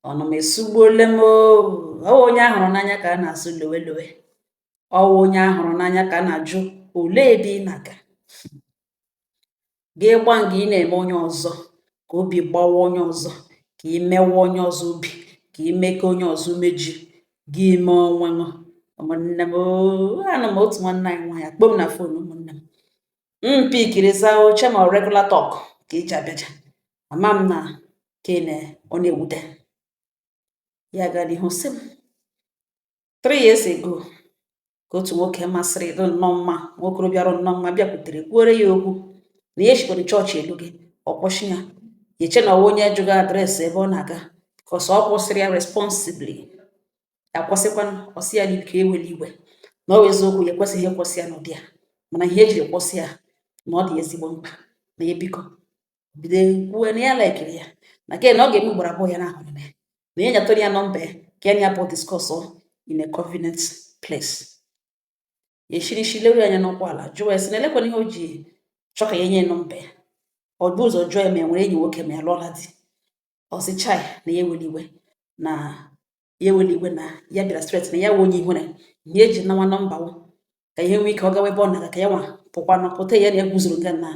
ọnụ m esugbuole m ọ wụ onye a hụrụ n'anya ka a na-asụ lowe lowe ọ wụ onye a hụrụ n'anya ka a na-ajụ olee ebe ị na-aga gị gba nga ị na-eme onye ọzọ ka obi gbawa onye ọzọ ka ị mewe onye ọzọ obi ka ị mee ka onye ọzọ meji gị ime onwe ṅụ ụmụnne m anụ m otu nwanne anyị nwaanyị akpọ m na fon ụmụnne m m pikiri ya eche m na regular talk ka iji abịaja ama m na ka ị na ọ na-ewute ya gaa n'ihu sị m three years ago ka otu nwoke masịrị dị nnọọ mma nwokorobịa rụ nnọọ mma bịakwutere kwuore ya okwu na ya eshikwara chọọchị alọga ọ kwụsị ya ya eche na ọ wụ onye jụga adreesị ebe ọ na-aga bikos ọ kwụsịrị ya responsibly akwụsịkwanụ ọ sị ya n'ike ewela iwe na ọ bụ eziokwu ya ekwesịghị ịkwụsị ya n'ụdị a mana ihe e jiri kwụsị ya na ọ dị ezigbo mkpa na ya biko bido kwuwe na ya laikiri ya na ke na ọ ga-eme ugboro abụọ ya na-ahụ ya na ya nyetụrụ ya nọmba ya ka ya na ya bụ discuss in a convenient place ya eshiri ishi leru anya n'ụkwụ ala jụọ ya sị na elekwanụ ihe o ji chọ ka ya nye nọmba ya o bu ụzọ jụọ ya ma ya nwere enyi nwoke ma ya alụọla di ọ sị chai na ya ewela iwe na ya ewela iwe na ya bịara straight na ya wụ onye ihwere ihe ya ji nawa nọmba wụ ka ihe nwee ike ọ gawa ebe ọ na-aga ka ya nwa pụkwa na pụta ya na ya guzoro nga na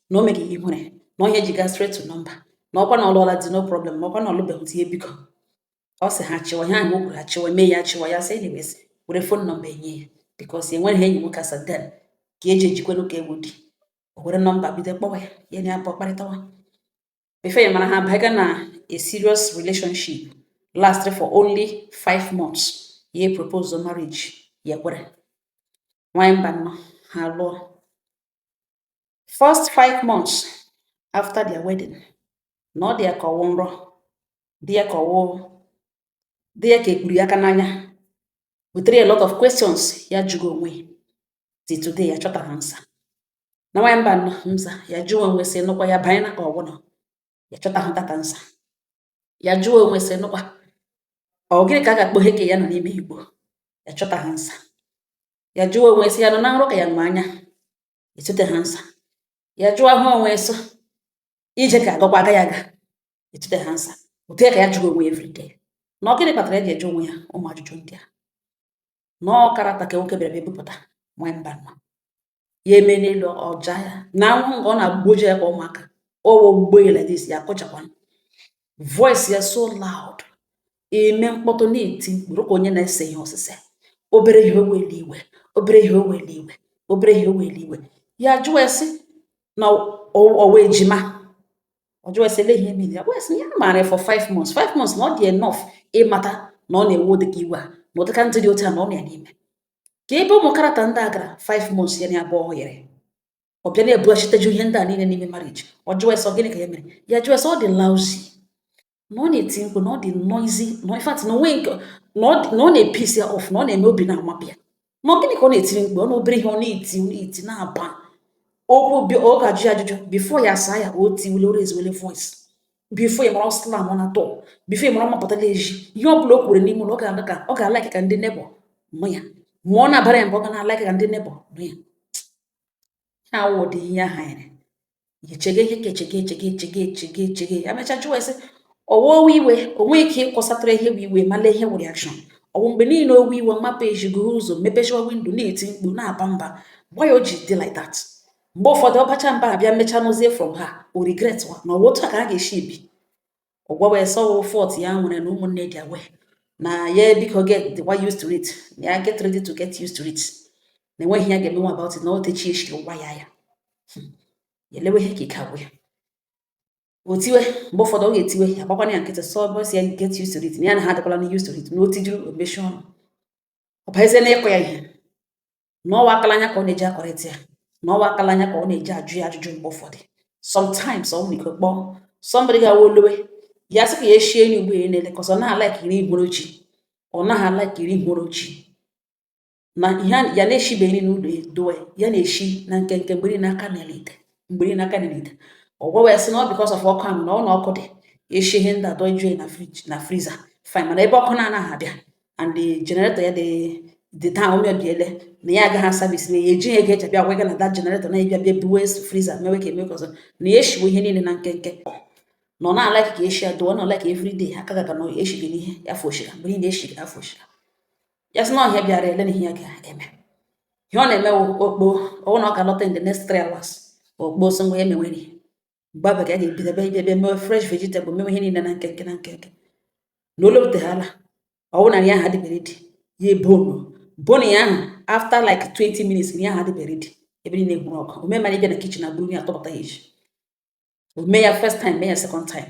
na o meghị ihwere na onye ji gaa straight to nọmba na ọkwa na ọ lụọla di no problem ma ọkwa na ọ lụbeghị di ya biko ọ sị ha chịwa ihe ahụ o kwuru achịwa mee ya achịwa ya sị anyways were fon nọmba nye ya bikos enweghị enyi nwoke as at then ka eji ejikwanụ ka ọ wụ di o were nọmba bido kpọwa ya ya na ya pụọ kparịtawa before ya amara ha baga na a serious relationship lastịrị for only five months ya propose marriage ya kwere nwanyị mba nnọ ha lụọ first five months after their wedding na ọ dị ya ka ọ wụ nrọ dị ya ka ọ wụ dị ya ka e kpuru ya aka n'anya butere a lot of questions ya jụga onwe till today ya achọtahụ answer na nwanyị mba nọ mza ya jụọ onwe sị nụkwa ya banye na ka ọgwụnọ ya achọtahụ that answer ya jụọ onwe sị nụkwa ọ gịnị ka a ga-akpọ ihe ka ya nọ n'ime igbo ya achọtahụ answer ya jụọ onwe sị ya nọ na nrọ ka ya nọ anya etutehụ answer ya jụọ ahụ onwe so ije ka agakwa aga ya ga etutehụ answer otu ya ka ya jụga onwe everyday na ọ gịnị kpatara ya ji ajụ onwe ya ụmụ ajụjụ ndị a na ọkarata ka nwoke bịara bịa bupụta nwee mba nọ ya eme n'elu ọja ya na anwụ nga ọ na-agboji ya ka ụmụaka ọwọ gbogbo ya like this ya akọchakwa voice ya so loud ime mkpọtụ na-eti mkpụrụ ka onye na-ese ihe ọsịsa obere ihe owele iwe obere ihe owele iwe obere ihe owele iwe ya jụọ esi na ọwa ejima ọ jụọ esi ele ihe mili ya wes ya maara for five months five months na ọ dị enough ịmata na ọ na-ewe ụdịka iwe a na ụdịka ndị dị otu a na ọ na-eme ka ebe ụmụ character ndị a gara 5 months ya na abụọ ọ yere ọ bịa na-ebughachitajụ ihe ndị a niile n'ime marriage ọ jụọ ya sị ọ gịnị ka ya mere ya jụọ ya sị ọ dị lousy na ọ na-eti mkpu na ọ dị noisy na in fact na o nwe nke na ọ na-episi ya off na ọ na-eme obi na-amapụ ya na ọ gịnị ka ọ na-etiri mkpu ọ na obere ihe ọ na-eti ọ na-eti na-aba okwu ọ ga-ajụ ya ajụjụ before ya asaa ya o tiwele o raisewele voice before ị mara ọ slamọna door before ị mara ọ mapụtala ezi ihe ọ bụla o kwuru n'ime ụlọ ọ ga-alike ka ọ ga-alike ka ndị neighbour nụ ya ma ọ na-abara ya mba ọ ga na-alike ka ndị neighbour nụ ya ha wụ ụdị ihe ahụ ya echege ihe ka echege echege echege echege echege ya mecha jụọ ya sị ọ wụwa iwe o nwere ike ịkọsatara ihe bụ iwe ma lee ihe wụ reaction ọ bụ mgbe niile o wee iwe mapụ ezi guzo mepechaa window na-eti mkpu na-aba mba why o ji dị like that mgbe ụfọdụ ọ bacha mba abịa mecha n'ozie from ha o regret wa na ọ wụ otu a ka a ga-esi ebi ọ gwawa ya sị ọ wụ fault ya nwere na ụmụnne dị aware na ya biko getiwa used to it ya get ready to get used to it na e nweghị ihe ya ga-emenwu about it na o techi echi ụgwa ya ya hmm. ya elewe ihe ka ike agwụ ya o tiwe mgbe ụfọdụ ọ ga-etiwe ya gbakwana ya nkịtị sọ bọs ya get used to it na ya na ha adịkwala na used to it na o tijuru o mechie ọnụ ọ bazie na ịkụ ya ihe na ọ wụ aka la anya ka ọ na-eji akọrịta ya na ọ wụ aka la anya ka ọ na-eji ajụ ya ajụjụ mgbe ụfọdụ sometimes o nwere ike kpọọ somebody gawa ọ lọwa ya sị ka ya eshie enyi ugbo ya na-ele ka ọ naghị alike iri ihe hụrụ chi ọ naghị alike iri ihe hụrụ chi na ihe ya na-eshibeghị n'ụlọ dowe ya na-eshi na nkenke mgberi n'aka n'ala ite mgberi n'aka n'ala ite ọ gwawa ya sị na ọ because of ọkụ ahụ na ọ na ọkụ dị ya eshie ihe ndị a dọjuo na fridge na freezer fine mana ebe ọkụ na-anaghị abịa and the generator ya dị dị taa o mebiele na ya agaghị aservice na ya ejighị ego eji abịa gwa gị na that generator na ịbịa bịa buwe freezer mewe ka eme ka ọzọ na ya eshiwe ihe niile na nkenke na ọ na-alike ka eshi adụọ na ọ like everyday aka gaga na eshi gị n'ihe ya fresh mgbe niile eshi gị fresh ya sị na ọhịa bịara ele na ihe ya ga-eme ihe ọ na-eme ọ kpọọ ọ wụ na ọ ga-alọta in the next three hours ọ kpọọ so ngwa ya emenwere mgbe abụ ka a ga-ebido ebe ebe ebe mewe fresh vegetable mewe ihe niile na nkenke na nkenke na ọ lọtahala ọ wụ na nri ahụ adịbe ready ya ebonu bonu ya ahụ after like 20 minutes nri ahụ adịbe ready ebe niile gwụrụ ọkụ ome mara ịbịa na kitchen buru nri a tọpụta ya ezi o mee ya first time mee ya second time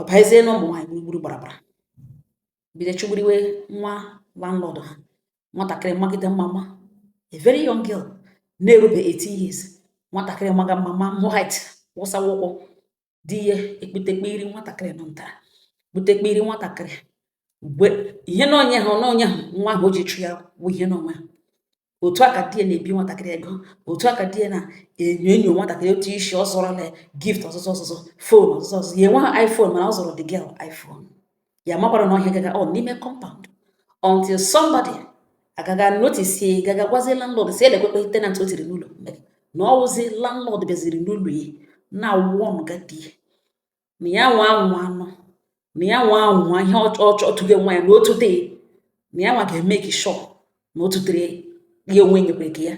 ọ bazie na ụmụ nwaanyị gburugburu gbarabara bido chụgburiwe nwa landlord ha nwatakịrị magide mma mma a very young girl na-erube 18 years nwatakịrị maga mma mma white wụsawa ukwu di ya ekputekpe iri nwatakịrị nọ ntara kputekpe iri nwatakịrị ihe na onye ha na onye ha nwa ahụ o ji achụ ya wụ ihe na onwe ha otu a ka di ya na-ebi nwatakịrị ego otu a ka di ya na-enyo enyo nwatakịrị otu isi ọ zụọrọla gift ọzụzụ fon ọzụzụ ya enweghị iphone mana ọ zụọrọ the girl iphone ya amakwara na ọ ihe a gaga n'ime compound until somebody agaga notice gaga gwazie landlord sị lekwekwe tenant o tiri n'ụlọ na ọ wụzi landlord bịaziri n'ụlọ ya na warn ga di na ya nwa anwụ anụ na ya nwa anwụ ihe ọ chọtụga nwa ya na otu day na ya nwa ga-emake sure na otutere ya onwe nyekwere ka ya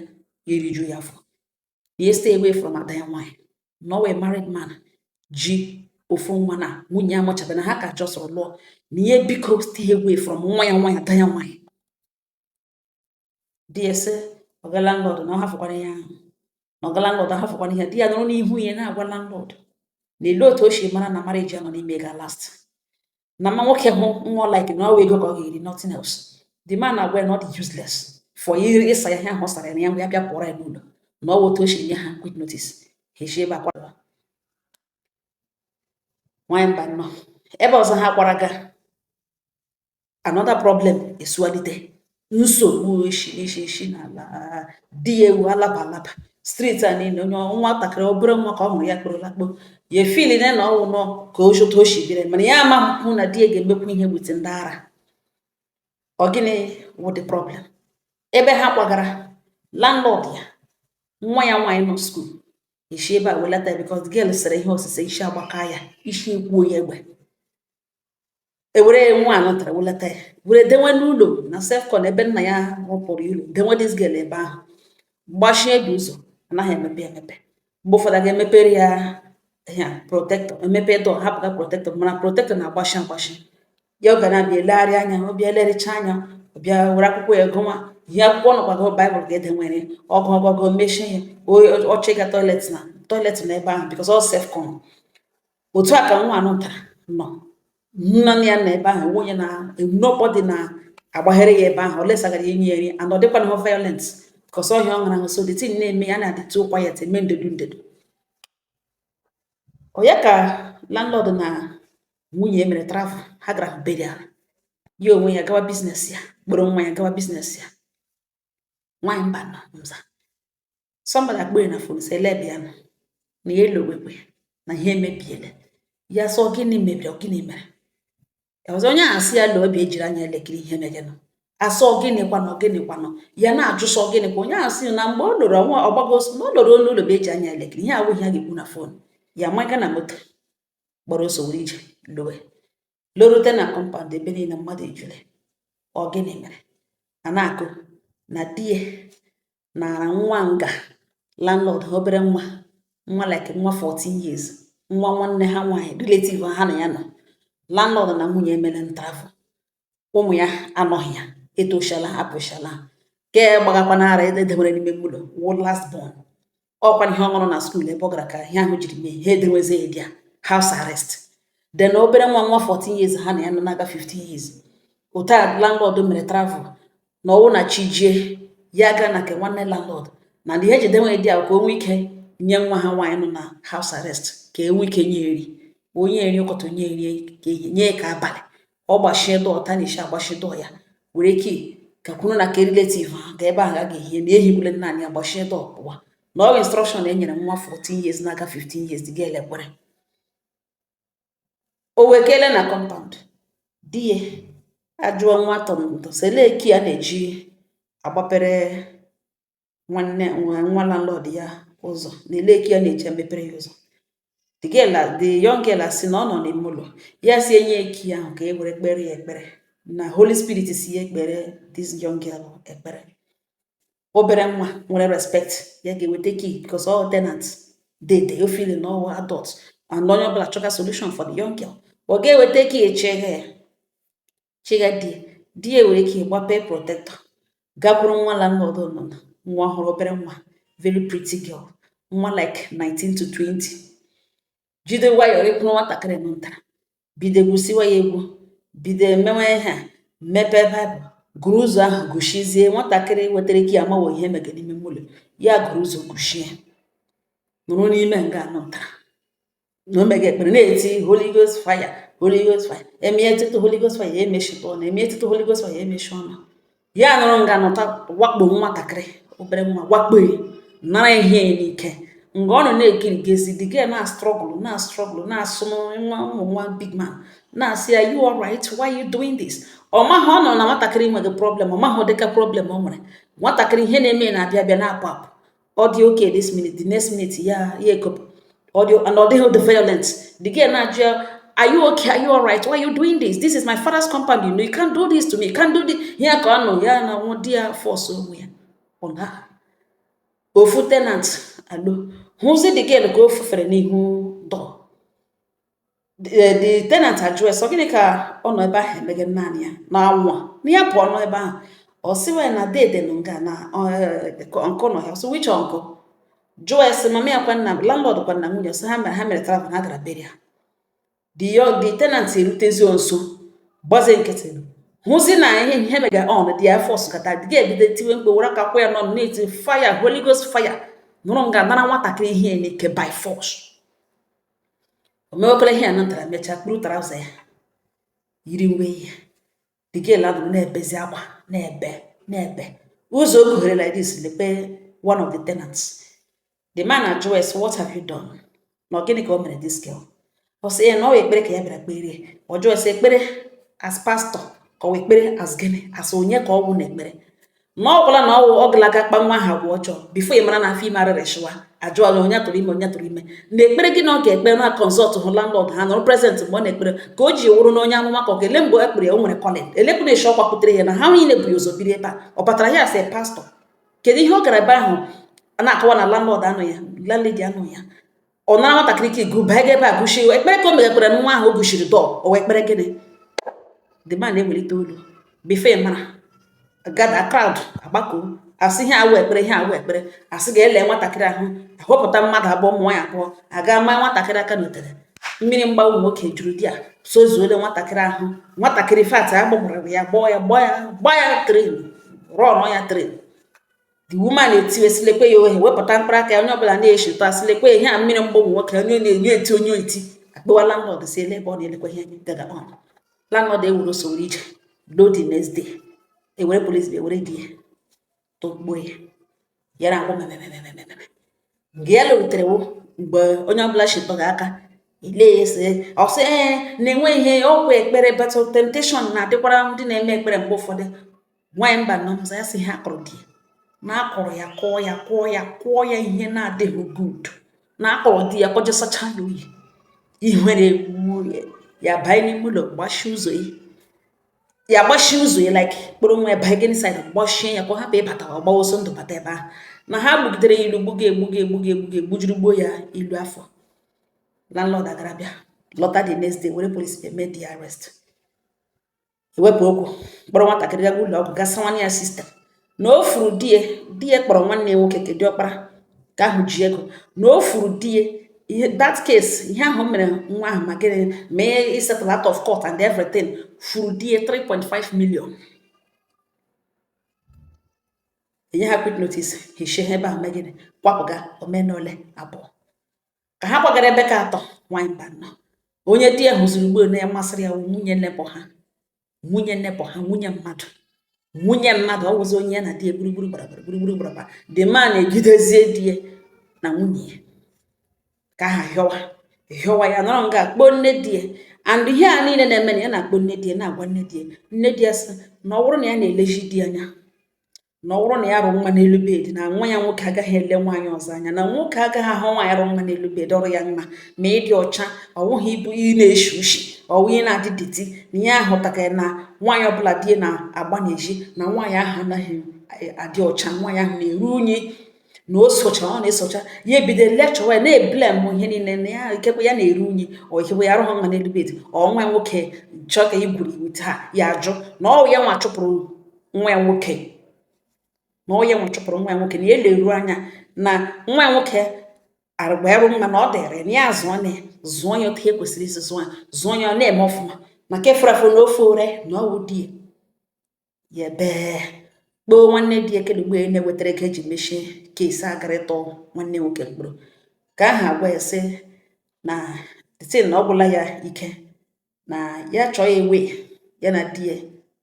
ya eriju ya afọ ya stay away from ada ya nwaanyị na ọ wụ a married man ji ofu nwa na nwunye ya amụchabe na ha ka just lụọ na ihe biko stay away from nwa ya nwaanyị ada ya nwaanyị di ya sị ọga landlord na ọ hafụkwara ya ahụ na ọga landlord ahafụkwara ihe di ya nọrọ n'ihu ya na-agwa landlord na ele otu o si mara na marriage ya nọ n'ime ga-alast na ma nwoke hụ nwa like na ọ wụ ego ka ọ ga-eri nothing else the man agwa ya na ọ dị useless for iri ịsa ya ihe ahụ ọ sara ya ngwa ya bịa pụọrọ ya n'ụlọ na ọ otu o si nye ha quick notice ha eji ebe akwara nwanyị mba nnọọ ebe ọzọ ha kwara ga another problem esualite nsogbu esi n'ala di ya ewu alaba alaba street a niile onye nwatakịrị obere nwa ka ọ hụrụ ya kporo lakpo ya efeel na na ọ wụ nọ ka otu o shi biri mana ya amahụ na di ya ga-emekwu ihe with ndị ara ọ gịnị wụ the problem ebe ha kwagara landlord ya nwa ya nwaanyị nọ skuul e si ebe a welata ya because girl sere ihe osise isi agbaka ya isi ekwuo ya egbe ewere ya nwa anọtara welata ya were denwe n'ụlọ na self-con ebe nna ya rụpụrụ ụlọ denwe this girl ebe ahụ gbachide ụzọ anaghị emepe emepe mgbe ụfọdụ a ga-emepere ya ya protector emepe door hapụ the protector mana protector na-agbachi agbachi ya ọ ga na-abịa elegharị anya ọ bịa elerịcha anya ọ bịa were akwụkwọ ya gụwa ihe akwụkwọ nọkwago baịbụl ka e denwere ọ gụọ gụọ mechie ya ọ chọ ịga toilet na toilet nọ ebe ahụ because ọ self-con otu a ka nwa anụ tara nọ nna ya na ebe ahụ nwunye na nobody na-agbaghere ya ebe ahụ unless a gara inye ya nri and ọ dịkwanahụ violent because ọ ihe ọ ṅara ahụ so the thing na-eme ya na-adịtụ quiet eme ndedu ndedu ọ ya ka landlord na nwunye mere travel ha gara burial ya onwe ya gawa business ya kpọrọ nwa ya gawa business ya nwaanyị mba na nza somebody akpọ ya na fon sị lee bịa nọ na ya elowekwe na ihe emebiele ya sọ gịnị mebiri gịnị mere ọzọ onye ahụ asị ya lee ọ bịa jiri anya elekiri ihe megenụ asọ gịnị kwanụ gịnị kwanụ ya na-ajụ sọ gịnị kwa onye ahụ sị na mgbe ọ lụrụ ọnwa ọgbago na ọ lụrụ onye ụlọ bụ eji anya elekiri ihe awụghị ya ga-ekwu na fon ya amaga na moto gbara ọsọ were ije lowe lorute na kọmpand ebe niile mmadụ ejule ọ gịnị mere a na-akọ na di ya nara nwa nga landlord ha obere nwa nwa like nwa 14 years nwa nwanne ha nwaanyị relative ha na ya nọ landlord na nwunye ya mere travel ụmụ ya anọghị ya etoshala apụshala ke gbagakwa n'ara edebere n'ime ụlọ wụ last born ọkwa ihe ọ ṅụrụ na skuul ebe ọ gara ka ihe ahụ jiri mee ha edewezie ya dia house arrest then obere nwa nwa 14 years ha na ya nọ na-aga 15 years otu a landlord mere travel na ọ wụ na chi jie ya aga na nke nwanne landlord na ndị e ji edewe dia ka o nwee ike nye nwa ha nwaanyị nọ na house arrest ka e nwee ike nye ya nri o nye ya nri ke ụtụtụ o nye ya nri ke ehihie nye ke abalị ọ gbachie door tanishi agbachie door ya were key gakwuru na ke relative ha ga ebe ahụ a ga-ehie na ehigbule naanị ya gbachie door pụwa na ọ instruction e nyere nwa 14 years na-aga 15 years dị ga elekwere o wee kelee na kọmpaụnd di ya ajụọ nwa tọntọ sị olee key a na-eji agbapere nwanne nwa landlord ya ụzọ na olee key a na-eji emepere ya ụzọ the girl the young girl asị na ọ nọ n'ime ụlọ ya sị ya nye ya key ahụ ka e were kpere ya ekpere na holy spirit sị ya kpere this young girl ekpere obere nwa nwere respect ya ga-eweta key because all tenant dey dey o feel na ọ wụ adult and onye ọbụla chọga solution for the young girl ọ ga-eweta key echeghe ya chịga di ya di ya were key gbape protector gakwuru nwa landlord nọ na nwa ọhụrụ obere nwa very pretty girl nwa like 19 to 20 jide nwayọọ kpụrụ nwatakịrị nọ ntara bido gwusiwa ya egwu bido emewe ihe a mepee baịbụl gụrụ ụzọ ahụ gụchizie nwatakịrị wetara key amawo ihe mege n'ime ụlọ ya gụrụ ụzọ gụchie nọrọ n'ime nga anọ ntara na ọ mega ekpere na-eti holy ghost fire holy ghost fire eme etutu holy ghost fire emechite ọnụ eme etutu holy ghost fire emechi ọnụ ya nọrọ nga nụta wakpo nwatakịrị obere nwa wakpo nara ihe n'ike mgbe ọ nọ na-ekiri gezi the girl na-astruggle na-astruggle na-asụ nwa ụmụ nwa big man na-asị ya you alright why you doing this ọ maghị ọ nọ na nwatakịrị nweghị problem ọ maghị dịka problem o nwere nwatakịrị ihe na-eme na-abịa abịa na-apụ apụ ọ dị okay this minute the next minute ya ya ekopụ ọ dị and ọ dịghị the violent the girl na-ajụ ya are you okay are you alright why are you doing this this is my father's compound you know you can't do this to me you can't do this ya ka ọ nọ ya na nwa di ya force onwe ya on her ofu tenant alo hụzi the girl ka o fufere n'ihu door the, the tenant ajụ ya sị ọ gịnị ka ọ nọ ebe ahụ emega naanị ya na nwa a na ya pụọ n'ebe ahụ ọ sịwa ya na dede nọ nga na uncle nọ ya ọ sị which uncle jụọ ya sị mama ya kwanụ landlord kwa na nwunye ọ sị ha mere ha mere travel ha gara burial the yo- the tenant erutezi nso gbaze nkịtị hụzi na ihe ihe mega on di ya force kata the girl ebido tiwe mkpu were aka kwụ ya ọnụ na-eti fire holy ghost fire nọrọ nga nara nwatakịrị ihe n'ike by force o mewekọrọ ihe ya na nwata mechaa kpuru trouser ya yiri uwe ya the girl adụrụ na-ebezi akwa na-ebe na-ebe ụzọ o kughere like this lekwe one of the tenants the man ajụ ya sị what have you done na ọ gịnị ka o mere this girl ọ sị ya na ọ wụ ekpere ka ya bịara kpere ọ jụọ ya sị ekpere as pastor ka ọ wụ ekpere as gịnị as onye ka ọ wụ na ekpere na ọ gwụla na ọwụ ọ galaga kpaa nwa ha agwa ọjọọ before ị mara na afọ ime arịrịchịwa ajụọ gị onye tụrụ ime onye tụrụ ime na ekpere gị na ọ ga-ekpere na consult hụ landlord ha nọrọ present mgbe ọ na-ekpere ka o ji wụrụ na onye amụma ka ọ ga-ele mgbe ekpere ya o nwere calling elekwana eshi ọkwa pụtara ya na ha niile bụ ya ụzọ biri ebe a ọ batara ya asị pastor kedu ihe ọ gara ebe ahụ a na-akọwa na landlord anọ ya landlady anọ ya ọ nara nwatakịrị key baa ebe a gụchie ọ wụ ekpere ka o megakwara nwa ahụ o gụchiri door ọ wụ ekpere gịnị the man na-ewelite olu before ị mara gada crowd agbakọ asị ihe awụ ekpere ihe awụ ekpere asị ga-ele nwatakịrị ahụ ahọpụta mmadụ abụọ ụmụ nwaanyị abụọ aga maa nwatakịrị aka n'otere mmiri mgbawa ụmụ nwoke juru there sozuole nwatakịrị ahụ nwatakịrị in fact agbagbara ya gbaa ya gbaa ya gbaa ya train rọnụ ya train the woman etiwe sị lekwe ya ohe wepụta mkpụrụ aka ya onye ọbụla na-echeta sị lekwe ihe a mmiri mgbọgwụ nwoke onye na onye eti onye eti akpọwa landlord sị ele ebe ọ nọ lekwa ihe gaga on landlord ewuru soro ije lọ the next day ewere police ewere di ya togbuo ya yara agwụ memememememe mgbe ya lụrutere mgbe onye ọbụla chịtọrọ aka ile ya ese ọ sị ee na-enwe ihe ọkwa ekpere but temptation na-adịkwara ndị na-eme ekpere mgbe ụfọdụ nwaanyị mba nọ mza ya sị ha kụrụ di ya na a kụrụ ya kụọ ya kụọ ya kụọ ya ihe na-adịghị good na a kụrụ di ya kụjọsachaa ya oyi ihere egbuo ya banye n'ime ụlọ gbachie ụzọ ya ya gbachie ụzọ ya like kpọrọ nwa ya banye inside gbachie ya ka ọ hapụ ịbata ọ gbawa ọsọ ndụ bata ebe ahụ na ha gbugidere ya ilu gbuga egbuga egbuga egbuga egbujuru gbuo ya ilu afọ landlord agara bịa lọta the next day were police bịa mee the arrest ewepụ okwu kpọrọ nwatakịrị gaga ụlọ ọgwụ gasị nwanne ya sister na o furu di ya di ya kpọrọ nwanne ya nwoke ke diọkpara ke ahụ ji ego na o furu di ya ihe that case ihe ahụ mere nwa ahụ ma gịnị ma ihe isettle out of court and everything furu di ya 3.5 million enye ha quick notice ha eshi ebe ahụ mee gịnị kwapụga omenole abụọ ka ha kwagara ebe ke atọ nwanyị mba nọ onye di ya hụziri ugbo na ya masịrị ya nwunye neighbour ha nwunye neighbour ha nwunye mmadụ nwunye mmadụ ọ wụzi onye ya na di ya gburugburu gbarabara gburugburu gbaraba the man ejidezie di ya na nwunye ya ke ahụ hịọwa hịọwa ya nọrọ nga a kpọọ nne di ya and ihe a niile na-eme na ya na-akpọ nne di ya na-agwa nne di ya nne di ya sị na ọ bụrụ na ya na-elezi di ya anya na ọ bụrụ na ya rụ nwa n'elu bed na nwa ya nwoke agaghị ele nwaanyị ọzọ anya na nwoke agaghị ahụ nwaanyị rụ nwa n'elu bed ọ rụ ya mma ma ị dị ọcha ọ bụghị ịbụ ị na-eshi ushi ọwụ ị na-adị dirty na ya ahụtakara na nwaanyị ọbụla di na-agba n'ezi na nwaanyị ahụ anaghị e, adị ọcha nwaanyị ahụ na-eru unyi na o socha ọ na-esocha ya ebido lecture ya na-eblame ihe niile na ya ikekwe ya na-eru unyi ọ ikekwe ya arụghị nwa n'elu bed ọ nwa nwoke chọọ ka e gwuri with her ya ajụ na ọwụ ya nwa chụpụrụ nwa ya nwoke na ọ ya nwa chụpụrụ nwa ya nwoke na ya eleru anya na nwa ya nwoke agba arụ mma na ọ dịrị na ya zụọ na ya zụọ ya otu e kwesịrị isi zụọ ya zụọ ya ọ na-eme ọfụma na nke fụrụ afụ na ofe ore na ọwụ di ya ebee kpọọ nwanne di ya kele mgbe e na-ewetara ego eji mechie case a gara ịtụ nwanne nwoke mkpọrọ ke ahụ agwa ya sị na thing na ọ gwụla ya ike na ya chọọ ewe ya na di ya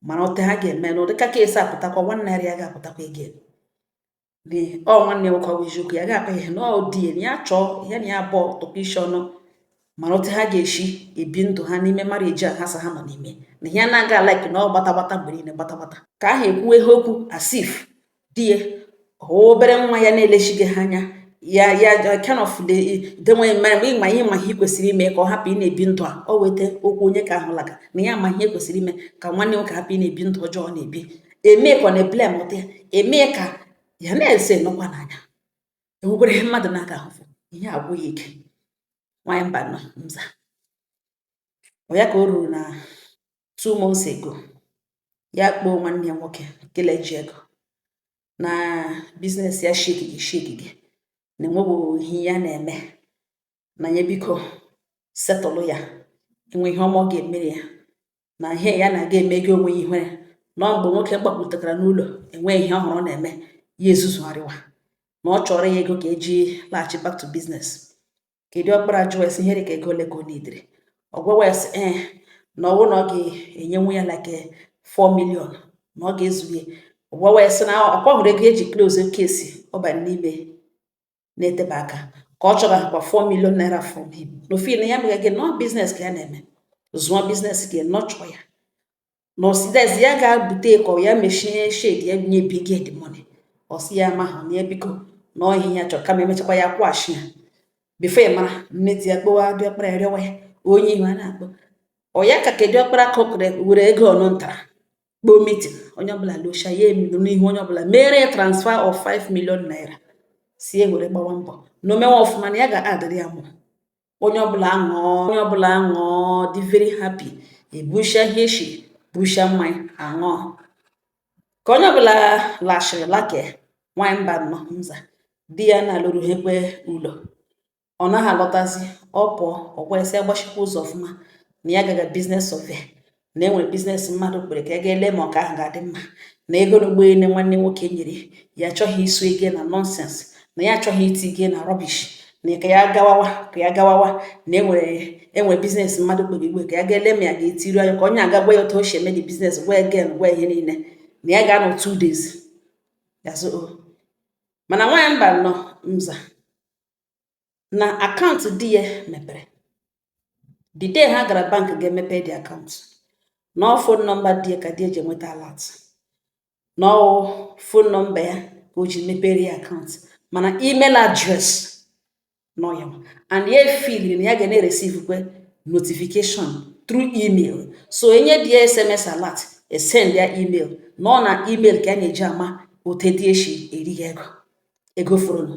mara otu ha ga-eme na ụdịka case a pụtakwa nwanne ya ya ga-apụtakwa again ọ nwanne nwoke ọ bụ eziokwu ya ga-akpa ihe na ọ di ya na ya chọọ ya na ya abụọ tụkọ isi ọnụ mara otu ha ga-esi ebi ndụ ha n'ime marriage a ha sị ha nọ n'ime na ihe na-aga like na ọ gbata gbata mgbe niile gbata gbata ke ahụ ekwuwe ihe okwu as if di ya wụ obere nwa ya na-elezighị ha anya ya ya kind of the denweghị mma mgbe ịma ihe ma ihe kwesịrị ime ka ọ hapụ ị na-ebi ndụ a o weta okwu onye ke ahụ laga na ya ma ihe kwesịrị ime ka nwanne nwoke hapụ ị na-ebi ndụ ọjọọ ọ na-ebi eme ka ọ na-eblame ụta ya eme ka ya na-ese nọkwa n'anya enwekwara ihe mmadụ na-aga ahụfụ ihe agwụ ya ike nwaanyị mba nọ nza ọ ya ka o ruru na two months ago ya kpọọ nwanne ya nwoke kele ji ego na biznes ya eshighị ike eshighị ike na enweghị ihe ya na-eme na ya biko settle ya e nwee ihe ọ ma ọ ga-emere ya na ihe ya na-aga emeghị onwe ihe na ọ mgbe nwoke gbapụtakara n'ụlọ enweghị ihe ọhụrụ ọ na-eme ya ezuzugharịwa na ọ chọọrọ ya ego ka eji laghachi back to business ke diọkpara jụọ ya sị ihe dị ka ego ole ka ọ needịrị ọ gwawa ya sị ee na ọ wụ na ọ ga-enyenwu ya like 4 million na ọ ga-ezuru ya ọ gwawa ya sị na ọ kwa ọ hụrụ ego e ji close case ọ ba n'ime na-eteba aka ka ọ chọwakwa 4 million naira from him na ọ feel na ya megaghị nọ biznes ka ya na-eme zụọ biznes gị nọchụọ ya na ọsị dezi ya ga-abute ka ọ ya mechie shed ya nye bi gị the money ọ sị ya ma ha na biko na ọ ihe ya chọrọ kama emechakwa ya kwụghachi ya before ya mara nne di ya kpọwa diọkpara ya rịọwa ya onye ihu a na-akpọ ọ ya ka ke diọkpara ka ọ kere were ego ọnụ ntara kpọọ meeting onye ọbụla locha ya emido n'ihu onye ọbụla mere ya transfer of 5 million naira sị ya were gbawa mbọ na o mewe ọfụma na ya ga-adịrị ya mma onye ọbụla aṅụọ onye ọbụla aṅụọ dị very happy e busha ihe e shi busha mmanya aṅụọ ka onye ọbụla lachịrị lake nwanyị mba nọ nza di ya na-alụrụ ha ekwe ụlọ ọ naghị alọtazi ọ pụọ ọ gwa ya sị ya gbachikwa ụzọ ọfụma na ya gaga biznes survey na e nwere biznes mmadụ kpọrọ ya ka ya ga ele ma ọ ke ahụ ga-adị mma na ego na ụgbọelu nwanne nwoke nyere ya achọghị isu ego na nonsense na ya achọghị iti ige na rubbish na ka ya gawawa ka ya gawawa na enwere enwere biznes mmadụ kpọrọ ya ugbu a ka ya ga ele ma ya ga-etiru anya ka onye a ga-agwa ya otu o si eme the biznes gwa ya gain gwa ihe niile na ya ga-anọ two days ya oh. mana nwaanyị mba nọ mza na akaụntụ di ya mepere the day ha gara bank ga-emepe the akaụntụ na ọ fon nọmba di ya ka di ya ji enweta alat na ọ fon nọmba ya ka o ji mepere ya akaụntụ mana email address na ọ ya and ya efeel na ya ga na-ereceivekwa notification through email so e nye di ya sms alat e send ya email na ọ na email ka ya na-eji ama otu di ya shi eri ya ego ego fọrọnụ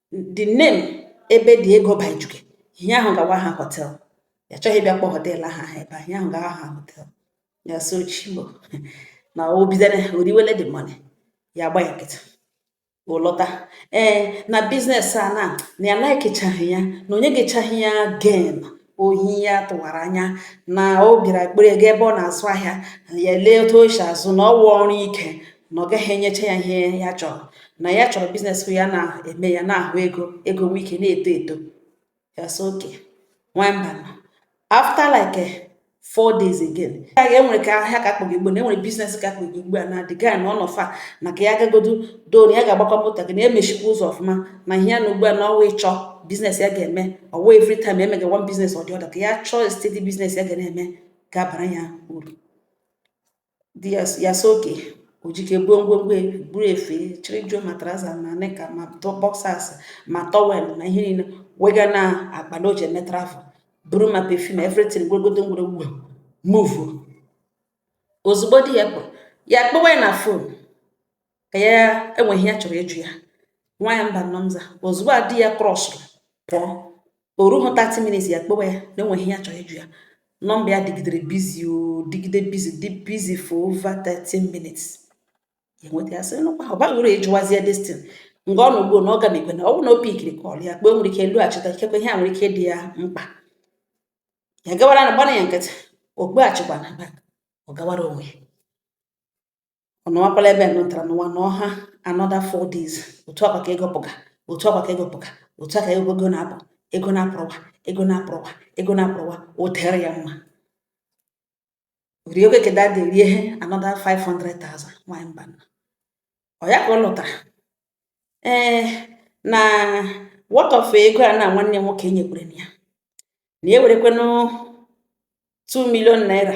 the name ebe dị ego by juke ihe ahụ ga-awụ aha hotel ya achọghị ịbịa kpọ hotel aha ha ebe ihe ahụ ga-awụ aha hotel ya sị ọ Chim o na o bidere o riwele the money ya agba ya nkịtị ọ lọta ee na biznes a na na ya laikichaghị ya na o nyegechaghị ya gain ohi ya tụwara anya na ọ bịara kpọrọ ya gaa ebe ọ na-azụ ahịa ya lee otu o si azụ na ọ wụ ọrụ ike na ọ gaghị enyecha ya ihe ya chọrọ na ya chọrọ biznes ya na-eme ya na-ahụ ego ego nwe ike na-eto eto ya sị okay nwamba after like four days again ya ga enwere ka ahịa ka kpọgị ugbu na e nwere biznes ka kpọgị ugbu a na the guy na ọ nọ far na ka ya gagodu don ya ga-agbakwa moto gaa na ya mechikwa ụzọ ọfụma na ihe ya nọ ugbu a na ọ wụ ịchọ biznes ya ga-eme ọwa every time e mega one biznes ọ dị ọda ka ya chọọ steady biznes ya ga na-eme ga-abara ya uru di ya ya sị okay o jike buo ngwongwo e- buru efe chịrị juo ma trouser ma knicker ma tọ- boxers ma towel ma ihe niile wega na akpa na o ji eme travel buru ma perfume everything gwegodo ngwere ugwe move ozugbo di ya pụrụ ya kpọwa ya na phone ka ya enwe ihe ya chọrọ ịjụ ya nwa ya mba nnọọ nza ozugbo a di ya krọsụrụ pụọ o rughị 30 minutes ya kpọwa ya na enweghị ihe ya chọrọ ịjụ ya number ya dịgidere busy ọ dịgide busy dị busy for over 13 minutes ya nweta ya sị nụkwa ọ baghị uru ịjụwazie destin nga ọ nọgbuo na ọ ga na-ekwe na ọ bụrụ na o pikiri call ya kpee nwere ike elu achịta ikekwe ihe a nwere ike dị ya mkpa ya gawara na gbana ya nkịtị o kpeghachikwa na back ọ gawara onwe ya ọ nọwakwala ebe nụtara n'ụwa na ọha another four days otu a kwa ka ego pụga otu a kwa ka ego pụga otu a ka ego ego na-apụ ego na-apụrụwa ego na-apụrụwa ego na-apụrụwa o tere ya mma rie okeke dada rie ihe another 500,000 nwanyị mba nna ọ ya ka ọ lụtara ee na what of ego a na nwanne nwoke nyekwere ya na e nwerekwanụ 2 million naira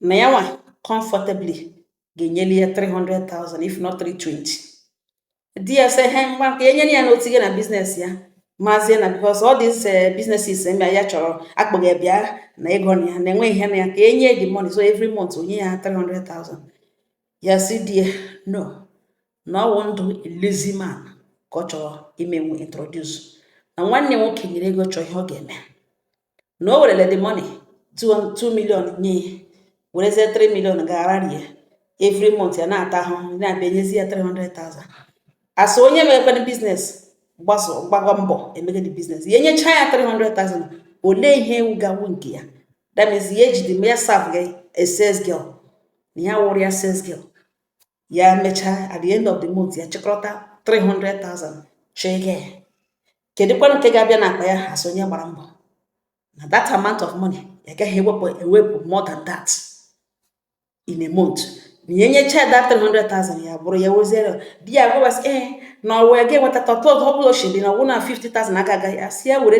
na ya nwa comfortably ga-enyeli ya 300,000 if not 320 di ya sị he ngwa ka enyere ya n'otu gị na business ya mazie na because all these businesses eme ya chọrọ akpọghị bịa na ego na ya na-enwe ihe na ya ka enye the money so every month o nye ya 300,000 ya sị di ya no na ọ wụ ndụ lazy man ka ọ chọrọ imenwu introduce na nwanne nwoke nyere ego chọọ ihe ọ ga-eme na o werele the money 2 million nye werezie 3 million gara rie every month ya na-ata ahụhụ na-abịa nyezi ya 300,000 as onye mekwere business gbagọ mbọ emegide business ya enyecha ya 300,000 olee ihe wụ ga-awụ nke ya that means ya ejide ya serve gị as sales girl na ya wụrụ ya sales girl ya mechaa at the end of the month ya chịkọrọta 300,000 chọọ ego ya kedụkwanụ nke ga-abịa n'akpa ya as onye gbara mbọ na that amount of money ya gaghị ewepụ ewepụ more than that in a month na ya enyecha that 300,000 ya buru ya weziere di ya gwabasị ee eh, na ọwa ya ga-enweta tọtọ ọ bụla ochiri na ọ wụ na 50,000 aka agaghị asị ya were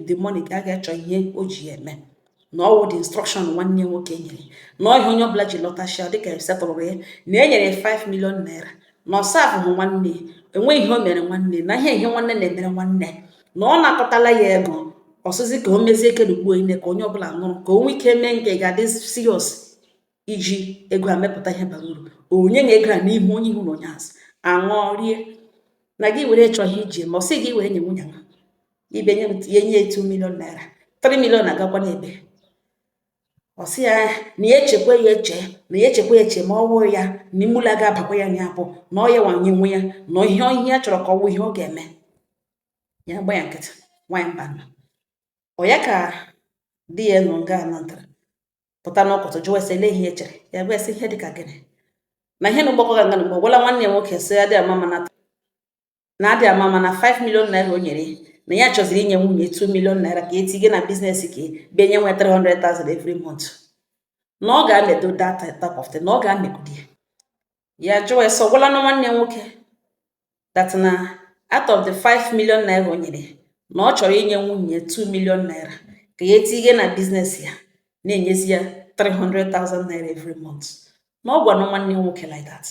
the money ga aga chọọ ihe o ji ya eme na ọ wụ the instruction nwanne nwoke nyere na ọ ihe onye ọbụla ji lọta ashịa dịka e setụlụrụ ya na e nyere 5 million naira na ọsa ahụhụ nwanne enweghị ihe o mere nwanne na ihe ihe nwanne na-emere nwanne na ọ na-akọtala ya ego ọ sịzi ka o mezie kedugbuo ine ka onye ọbụla nụrụ ka o nwee ike mee nke ga-adị serious iji ego a mepụta ihe bara uru onye nye ego a n'ihu onye ihu na onye azụ aṅụọ rie na gị were chọghị iji ma ọ sị gị were nye nwunye nwa ibe nye ya nye 2 million naira 3 million agakwa n'ebe ọ sị ya na ya echekwa ya eche na ya echekwa ya eche ma ọ wụrụ ya na imula ga-abakwa ya nya bụ na ọ ya wanye nwe ya na ihe ihe ya chọrọ ka ọ wụ ihe ọ ga-eme ya gba ya nkịtị nwaanyị mba ọ ya ka di ya nọ nga anatara pụta n'ụkọtụ jụwa ese elee ihe e chere ya bụ ese ihe dị ka gịnị na ihe na ụgbọkọ ga nga mgbe ọ gwala nwanne ya nwoke sị adị ama mana na adị ama mana 5 million naira o nyere na ya chọziri inye nwunye 2 million naira ka etinye na biznes ka bịa enyewe 300,000 every month na ọ ga-amedo that type of thing na ọ ga-amegodi ya ya jụọ ese ọ gwala na nwanne nwoke that na out of the 5 million naira o nyere na ọ chọrọ inye nwunye 2 million naira ka ya etinye na biznes ya na-enyezi ya 300,000 naira every month na ọ gwara nwanne nwoke like that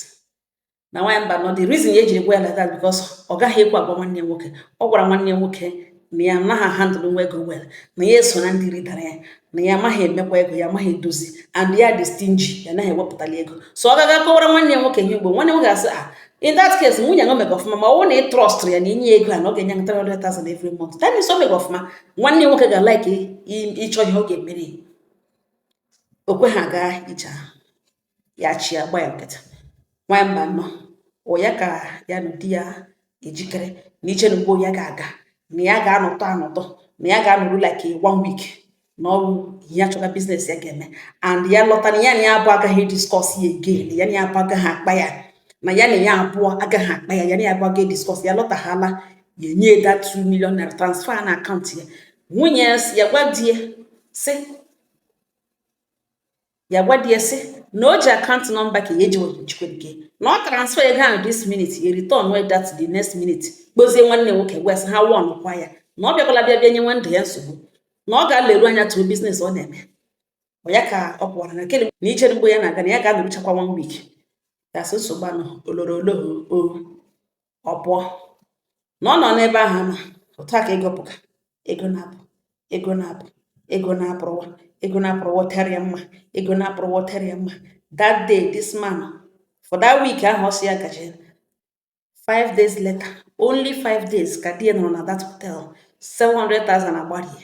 na nwaanyị mba no the reason ya ejiri gwa ya like that because ọ gaghị ekwe agwa nwanne nwoke ọ gwara nwanne nwoke na ya anaghị handle nwu ego well na ya eso na ndị ridara ya na ya amaghị emekwa ego ya amaghị edozi and ya dị stingy ya anaghị ewepụtali ego so ọ ga-aga kọwara nwanne ya nwoke ihe ugbo nwanne nwoke ga-asị ah, in that case nwunye ya o mega ọfụma ma ọ wụ na ị trọstụrụ ya na i nye ego a na ọ ga-enye 300,000 every month that means o mega ọfụma nwanne nwoke ga like ịchọ ihe ọ ga-emere o kwe ha gaa ije ahụ ya achị ya gba ya nkịtị nwaanyị mba nnọ ya ka ya na di ya ejikere na ije na ugbo ya ga-aga na ya ga-anọtụ anọtụ na ya ga-anọru like one week nọrọ ya achọga biznes ya ga-eme and ya lọta na ya na ya abụọ agaghị discuss ya again ya na ya abụọ agaghị akpa ya na ya na ya abụọ agaghị akpa ya ya na ya abụọ agaghị discuss ya lọtaghala ya enye that 2 million naira transfer na akaụntụ ya nwunye ya si ya gwa di ya sị ya gwa di ya sị na o ji akaụntụ nọmba ka ya eji njikwa nke na ọ transfer ego ahụ this minute ya return wey that the next minute kpọzie nwanne nwoke gwa sị ha warn kwa ya na ọ bịakwala bịa bịa nyewe ndụ ya nsogbu na ọ ga-aleru anya tụrụ biznes ọ na-eme ọ ya ka ọ pụwara na kele na ijere mgbe ya na-aga na ya ga-anọruchakwa one week ya sị nsogbu anọ oloro oloho ọ pụọ na ọ nọ n'ebe ahụ ma otu a ka ego pụga ego na-apụ ego na-apụ ego na-apụrụwa ego na-apụrụwa tara ya mma ego na-apụrụwa tara ya mma that day this man for that week ahụ ọ sị ya gaje five days later only five days ka di ya nọrọ na that hotel 700,000 agbarie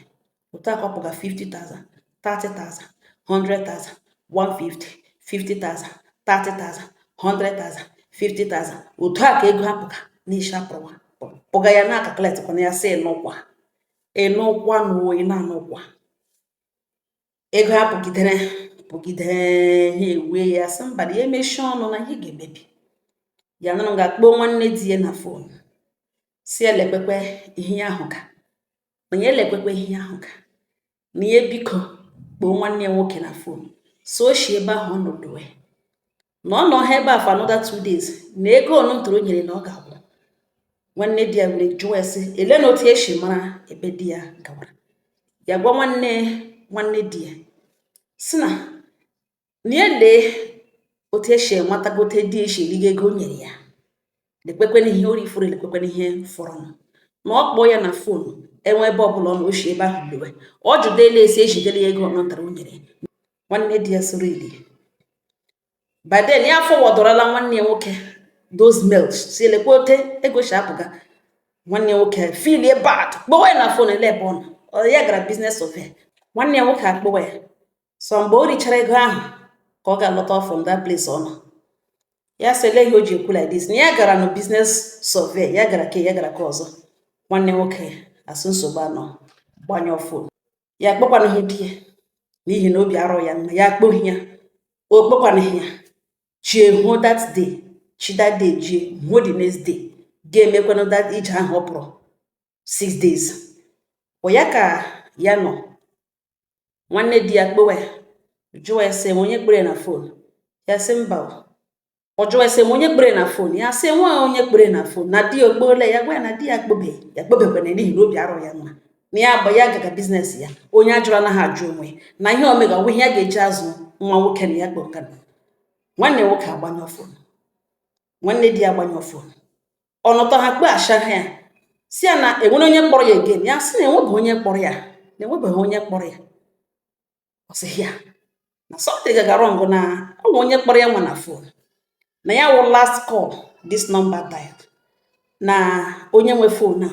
otu a ka ọ pụga 50,000 30,000 100,000 150 50,000 30,000 100,000 50,000 otu a ka ego a pụga n'isi apụrụwa pụga ya na-acalculatekwa na ya si n'ụkwa ịnụkwa na oyi na-anụkwa ego a pụgidere pụgidere ya ewee sị mba na ya emechie ọnụ na ihe ga-emebi ya nọrọ ga kpọọ nwanne di ya na fon sị ya lekwekwe ihe ya hụga na ya lekwekwa ihe ya hụga na ya biko kpọọ nwanne ya nwoke na fon so o si ebe ahụ ọ nọ lọwe na ọ nọọ ha ebe a for another two days na ego ọnụ ntụrụ nyere na ọ ga-agwụ nwanne di ya were jụọ ya sị ele na otu ya si mara ebe di ya gawara ya gwa nwanne nwanne di ya sị na ya lee otu esi enwetagote di esi erigo ego o nyere ya lekwekwena ihe o rifuru lekwekwena ihe fọrọnụ na ọ kpọọ ya na fon enwe ebe ọbụla ọ nọ o shi ebe ahụ lọwe ọ jụdela esi ejidela ya ego ọ natara o nyere nwanne di ya soro ili by then ya aforwardọrọla nwanne ya nwoke those mails sị ya lekwa otu ego si apụga nwanne ya nwoke feelie bad kpọwa ya na fon ele ebe ọ nọ ọ ya gara business survey nwanne ya nwoke akpọwa ya so mgbe o richara ego ahụ ka ọ ga-alọta from that place ọ nọ ya sị ele ihe o ji ekwu like this na ya gara na business survey ya gara ke a ya gara ke ọzọ nwanne nwoke asị nsogbu arọ gbanyụọ fon ya akpọkwanụghị di ya n'ihi na obi arọ ya mma ya akpọghị ya ọ kpọkwanụghị ya chi ehuo that day chi that day ji huo the next day ga-emekwanụ that ije ahụ ọ pụrụ six days ọ ya ka ya nọ nwanne di ya kpọwa jụọ ya sị ma onye kpọrọ na fon ya sị mba ọ jụọ ya sị ma onye kpọrọ na fon ya sị enwe onye kpọrọ na fon na di ya ọ kpọla ya gwa ya na di ya akpọbe ya akpọbekwana n'ihi na obi arọ ya mma na ya agba ya gaga business ya onye ajụrụ anaghị ajụ onwe ya na ihe ọ mega ọ wụ ihe ya ga-eji azụ nwa nwoke na ya kpọ nwanne nwoke agbanyụ fon nwanne di ya agbanyụ fon ọ nọtọ ha kpọchigha ya sị ya na enwere onye kpọrọ ya again ya sị na enwebeghị onye kpọrọ ya na enwebeghị onye kpọrọ ya ọ sị ya na something gaga wrong na ọ wụ onye kpọrọ ya nwa na fon na ya wụ last call this number dialed na onye nwe fon a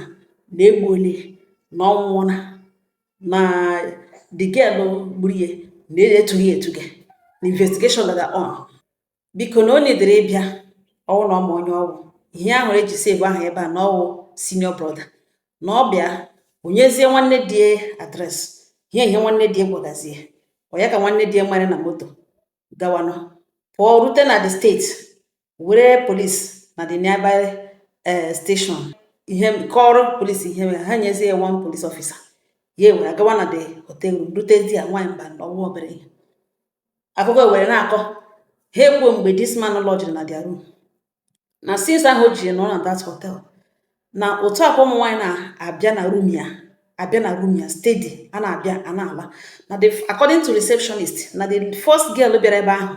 na egbuole na ọ nwụọla na the girl gburu ya na etughị etuga na investigation gaga on biko na o needịrị ịbịa ọ wụ na ọ ma onye ọ wụ ihe ahụ e ji save ahụ ebe a na ọ wụ senior brother na ọ bịa o nyezie nwanne di address ihe ihe nwanne di gwagazie ya ka nwanne di nwere na moto gawanụ pụọ rute na the state were police na the nearby eh, station ihe kọrọ police ihe mere ha nyezie ya one police officer ya ewere gawa na the hotel room rutezie ya nwaanyị mba na ọnwa obere ihe akụkọ were na-akọ ha ekwuo mgbe this man lodgiri na their room na since ahụ o jiri nọrọ na that hotel na otu a ka ụmụ nwaanyị na-abịa na room ya abịa na room ya steady a na-abịa a na-ala na according to receptionist na the first girl bịara ebe ahụ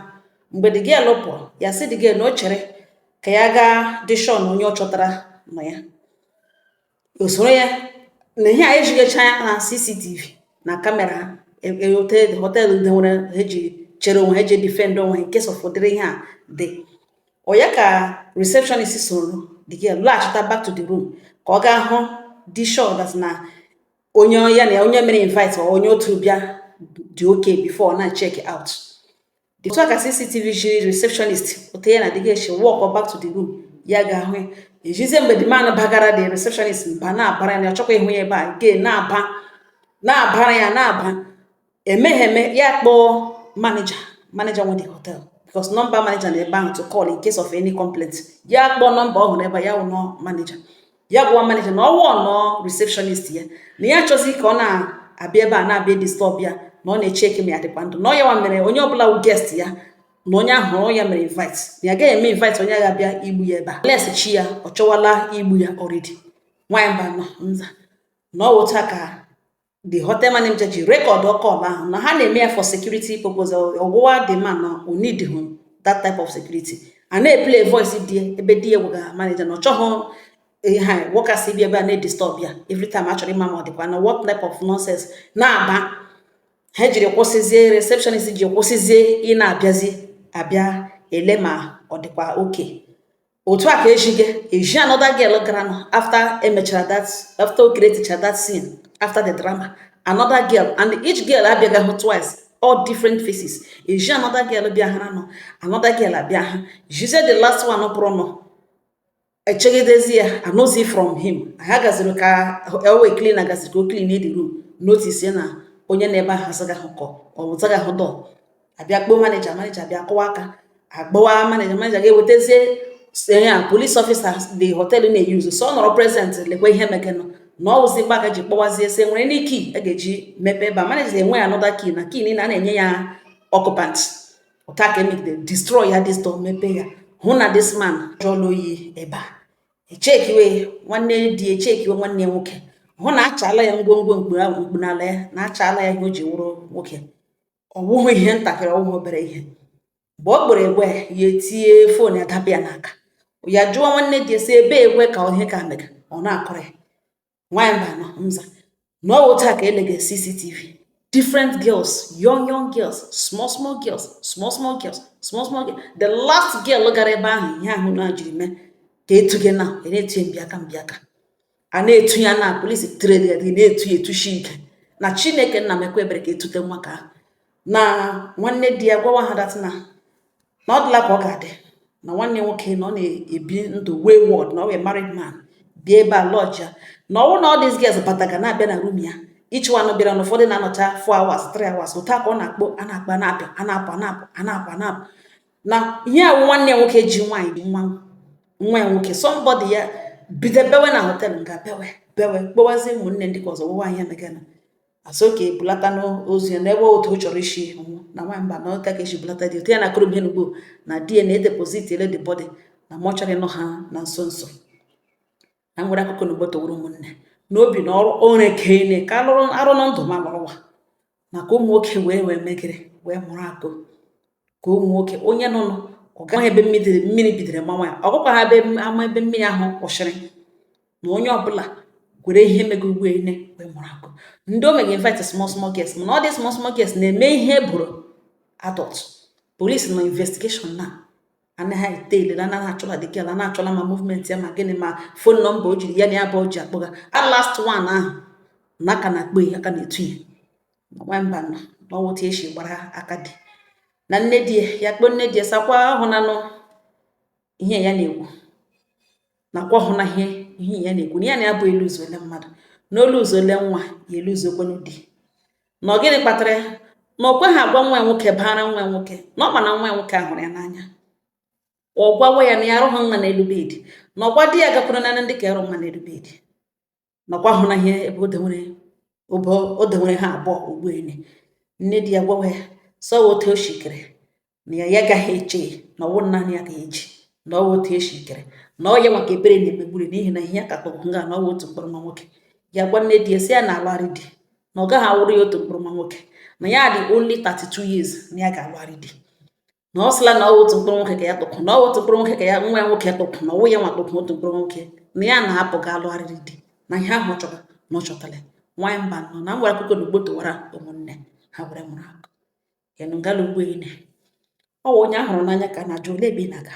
mgbe the girl pụọ ya sị the girl na o chere ka ya gaa dị sure na onye ọ chọtara nọ ya o soro ya na ihe a e jigacha ya na CCTV na camera ha hotel hotel ndị nwere ha ji chere onwe ha ji defend onwe in case of ụdịrị ihe a dị ọ ya ka receptionist soro the girl laghachita back to the room ka ọ gaa hụ dị sure that na onye ya na onye mere invite or onye otu bịa dị okay before na check out otu a ka CCTV jiri receptionist otu ya na the girl si walk back to the room ya gaa hụ ya e jizie mgbe the man bagara the receptionist mba na-abara ya na ọ chọkwa ịhụ ya ebe a again na-aba na-abara ya na-aba emeghe eme ya kpọọ manager manager nwe the hotel because nọmba manager nọ ebe ahụ to call in case of any complaint ya kpọọ nọmba ọ hụrụ ebe ya wụ nọ manager ya gwa manager na ọ warnụọ receptionist ya na ya achọzi ka ọ na-abịa ebe a na-abịa disturb ya na ọ na-echecki ma ya dịkwa ndụ na ọ ya nwa mere onye ọbụla wụ guest ya na onye a hụrụ ọ ya mere invite na ya gaghị eme invite onye ga-abịa igbu ya ebe a unless chi ya ọ chọwala igbu ya already nwaanyị mba nọ nza na ọ wụ otu a ka the hotel manager ji recordụ call ahụ na ha na-eme ya for security purpose ọ gwawa the man na o needịhụ that type of security a na-eplay voice di ebe di ya gwagara manager na ọ chọghị ha workers ịbịa ebe a na-edisturb ya every time a chọrọ ịma ma ọ dịkwa na what type of nonsense na-aba ha jiri kwụsịzie receptionist ji kwụsịzie ịna-abịazi abịa ele ma ọ dịkwa okay otu a ka e jiga eji another girl gara nọ after emechara that after o createcha that scene after the drama another girl and each girl abịagahụ twice all different faces e ji another girl bịa another girl abịa ha jizie the last one pụrụ nọ echegidezi ya anụzi from him ha gaziri ka e wee clean gaziri ka o clean the room notice na onye nọ ebe ahụ azagahụ kọ ọ zagahụ door abịa kpọọ manager manager bịa kụwa aka agbawa manager manager ga-ewetazie ya police officer the hotel na-eyuzu so ọ nọrọ present lekwa ihe meganụ na ọ wụzi mgbe a ga ji kpọwazie sị e nwere ndị key a ga-eji mepe ebe a manager enweghị another key na key niile a na-enye ya occupant otu a ka emegide destroy ya this door mepe ya hụ na this man jụọla oyi ebe a echekiwe nwanne di echekiwe nwanne ya nwoke hụ na achala ya ngwongwo mkpu n'ala ya na achala ya ihe o ji wụrụ nwoke ọ wụghị ihe ntakịrị ọwụghị obere ihe mgbe ọ kpọrọ gwa ya etie phone ya dapụ ya n'aka ya jụọ nwanne di esi ebe egwe ka ihe ka mega ọ na-akọrọ ya nwaanyị Mbanọ sị na ọ wụ otu a ka elega cctv different girls young young girls small small girls small small girls small small girls the last girl gara ebe ahụ ihe ahụ na jiri mee ka etuga ya na a na-etu ya mbiaka mbiaka a na-etu ya na police trade ya dị na-etu ya etushi ike na chineke nna mekwa ebere ka etute nwa ka ahụ. na nwanne di ya gwawa ha dat na na ọ dịla ka ọ ga-adị na nwanne nwoke na ọ na-ebi ndụ wayward na ọ wụ married man bịa ebe a lodge ya na ọ wụ na all these girls bataga na-abịa na room ya each one bịara na ụfọdụ na-anọcha 4 hours 3 hours otu a ka ọ na-akpọ a na-akpa na-apịa a na-apụ a na-apụ a na-apụ a na-apụ na ihe a wụ nwanne ya nwoke ji nwaanyị ji nwa nwa ya nwoke somebody ya bido bewe na hotel nga bewe bewe kpọwazie ụmụnne ndị ka ọzọ gwawa ihe meganụ asị ka ebulata ozu ya n'ebe otu ọ chọrọ isi ọnwụ na nwa Mbanọ otu a ka esi bulata di ya na akọrọ m ihe n'ugbo na dị na edeposit ele the body na mortuary nọ ha na nso nso na nwere akụkọ n'ugbo toworo ụmụnne na obi na ọrụ ore ka ene ka alụrụ arụ na ndụ m a lọrọ ụwa maka ụmụ nwoke were ihe megara wee mụrụ akọ ka ụmụ nwoke onye nọ nụ ọ gaghị ebe mmiri mmiri bidoro mawa ya ọ gakwaghị ama ebe mmiri ahụ kwụsịrị na onye ọbụla gwere ihe mega ugbo ene wee mụrụ akọ ndị o mega invite small small girls mana all these small small girls na-eme ihe bụrụ adult police na investigation na anaghị ete ilele na ha achọla the girl na ha achọla ma movement ya ma gịnị ma phone number o jiri ya na ya bụ o ji akpọga a last one ahụ na a ka na-akpọ ya a ka na-etu ya nwa Mbanọ na ọ wụ otu a esi gbara aka dị na nne di ya kpọọ nne di ya sị ọkwa ahụnanụ ihe ya na-ekwu na ọkwa ahụna ihe ihe ya na-ekwu na ya na-abụ eluzuola mmadụ na o luzuola nwa ya eluzukwanụ di na ọ gịnị kpatara ya na ọkwa ya agwa nwa ya nwoke baara nwa ya nwoke na ọ ma na nwa ya nwoke ahụrụ ya n'anya ọ gwawa ya na ya arụghị mma n'elu bed na ọgwa di ya gakwuru na ndị ka arụ mma n'elu bed nakwa hụ na ihe ebe o dewere ha abụọ ugbu a nne di ya gwawa ya sị ọwụ otu o shi kere na ya agaghị eche na ọwụ naanị ya ga-eji na ọwụ otu e si kere na ọ ya maka ebere na-emegburi n'ihi na ihe ya ka tọgbọ nga na ọwụ otu mkpụrụ nwa nwoke ya gwa nne di ya sị ya na-alụgharị di na ọ gaghị awụrụ ya otu mkpụrụ nwa nwoke na ya dị only 32 years na ya ga-alụgharị di na ọ sịla na ọwụ otu mkpụrụ nwoke ka ya tụkụ na ọwụ otu mkpụrụ nwoke ka ya nwa ya nwoke tụkụ na ọwụ ya nwa tụkụ otu mkpụrụ nwoke na ya na-apụ ga alụgharịrị di na ihe ahụ chọrọ na ọ chọtara nwaanyị Mbanọ na nwere akụkọ na ugbo tụwara ụmụnne ha were mụrụ akọ ịnụ ngala ugbo ine ọ wụ onye a hụrụ n'anya ka a na-ajụ ole ebe ị na-aga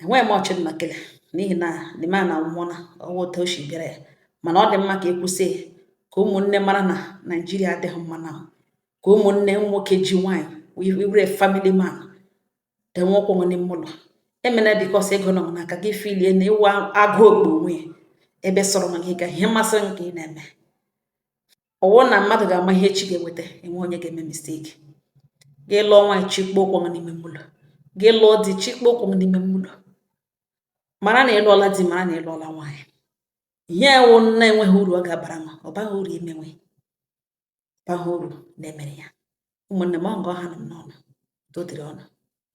enweghị m ọchị mma kele n'ihi na di m anwụọla ọwụ otu o si bịara ya mana ọ dị mma ka e kwụsị ya ka ụmụnne mara na naijiria adịghị mma na ka ụmụnne nwoke ji nwaanyị wụrụ family man dewe ụkwụ n'ime ụlọ emena because ego nọ n'aka gị filie na ị wụ agụ okpu onwe ya ebe sọrọ na gị ga ihe masịrị gị ka ị na-eme ọwụ na mmadụ ga-ama ihe echi ga-eweta enweghị onye ga-eme mistake gị lụọ nwaanyị chịkpọ ụkwụ n'ime ụlọ gị lụọ di chịkpọ ụkwụ n'ime ụlọ mara na ịlụọla di mara na ịlụọla nwaanyị ihe wụ na-enweghị uru ọ ga-abara m ọ baghị uru ime ihe baghị uru na-emere ya ụmụnne m ọ nga ọ hanụ m n'ọnụ dodiri ọnụ